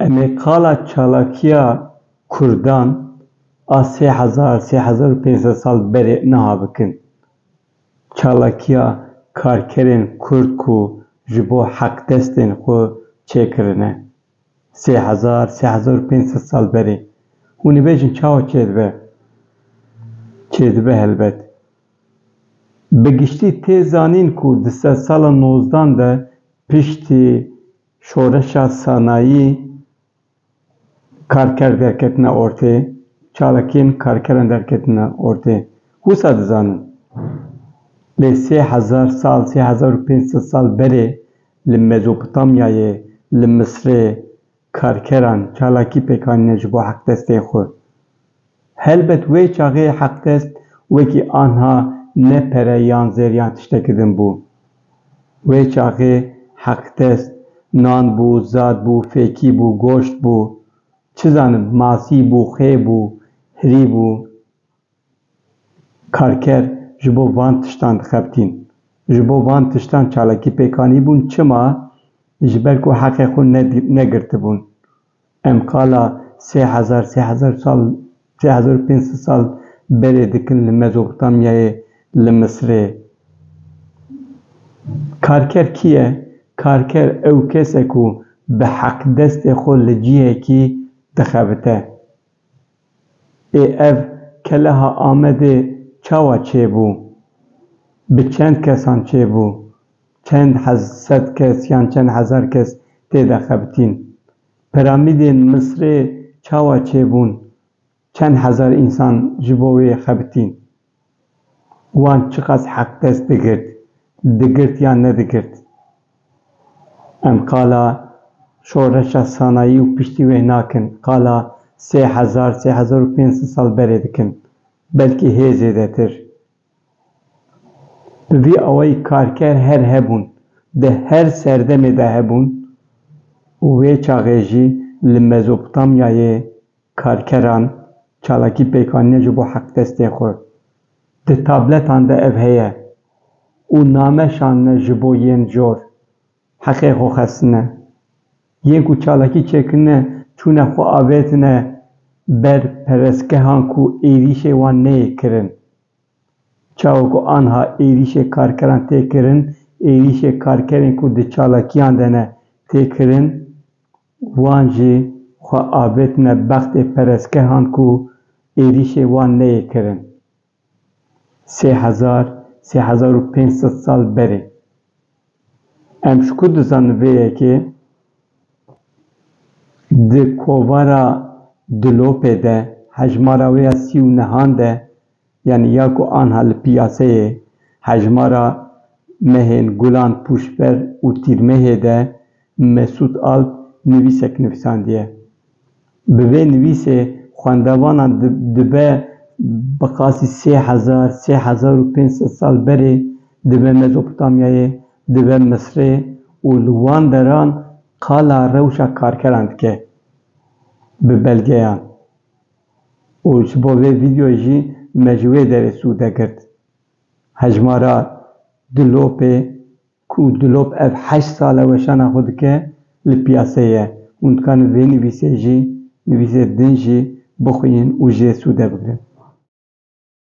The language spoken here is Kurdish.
Em ê qala çalakiya Kurdan a sê hezar, sê hezar û pênc sed sal berê niha bikin. Çalakiya karkerên Kurd ku ji bo heqdestên xwe çêkirine sê hezar, sê hezar û pênc sed sal berê. Hûn dibêjin çawa çêdibe? Çêdibe helbet. Bi giştî tê zanîn ku di sedsala nozdan de piştî şoreşa sanayî karker derketine ortê, çalakiyên karkeran derketine ortê. Wisa dizanin. Lê sê hezar sal, sê hezar û pênc sed sal berê li Mezopotamyayê, li Misirê, Karkeran çalakî pêk anîne ji bo heqdestê xwe. Helbet wê çaxê heqdest wekî anha ne pere yan zêr yan tiştekî din bû. Wê çaxê heqdest nan bû, zad bû, fêkî bû, goşt bû, çi zanim, masî bû, xê bû, hirî bû. Karker ji bo van tiştan dixebitîn. Ji bo van tiştan çalakî pêk anîbûn çima? Ji ber ku heqê xwe negirtibûn. Em qala sê hezar sê hezar sal sê hezar û pênc sed sal berê dikin li Mezopotamyayê li Misirê. Karker kî ye? Karker ew kes e ku bi heq destê xwe li cihekî dixebite. Ê ev keleha Amedê çawa çêbû? Bi çend kesan çêbû? Çend sed kes yan çend hezar kes tê de xebitîn? Piramîdên Misrê çawa çêbûn? Çend hezar însan ji bo wê xebitîn? Wan çiqas heq dest digirt, digirt yan nedigirt. Em qala şoreşa sanayî û piştî wê nakin, qala sê hezar, sê hezar û pênc sed sal berê dikin, belkî hê zêdetir. Bi vî awayî karker her hebûn, di her serdemê de hebûn û wê çaxê jî li Mezopotamyayê, Karkeran, çalakî pêkanîne ji bo heqdestê xwe. Di tabletan de ev heye û name şandine ji bo yên cor heqê xwe xestine. Yên ku çalakî çêkirine çûne xwe avêtine ber perestgehan ku êrîşê wan neyê kirin. Çawa ku anha êrîşê karkeran tê kirin, êrîşê karkerên ku di çalakiyan de ne tê kirin. Wan jî xwe avêtine bextê perestgehan ku êrîşê wan neyê kirin sê hezar, sê hezar û pênc sed sal berê. Em ji ku dizanin vê yekê di kovara Dilopê de, hejmara wê ya sî û nihan de Yanî ya ku anha li piyaseyê hejmara mehên gulan pûşber û tîrmehê de Mesûd Alp nivîsek nivisandiye. Bi vê nivîsê xwendevanan dibe bi qasî sê hezar, sê hezar û pênc sed sal berê dibe Mezopotamyayê, dibe Misrê û li wan deran qala rewşa karkeran dike bi belgeyan. û ji bo vê vîdeoyê jî me ji wê derê sûde girt. Hejmara Dulopê ku Dulop ev heşt sal e weşana xwe dike li piyaseyê ye. Hûn dikarin vê nivîsê jî, nivîsê din jî bixwînin û ji vê sûde bigrin.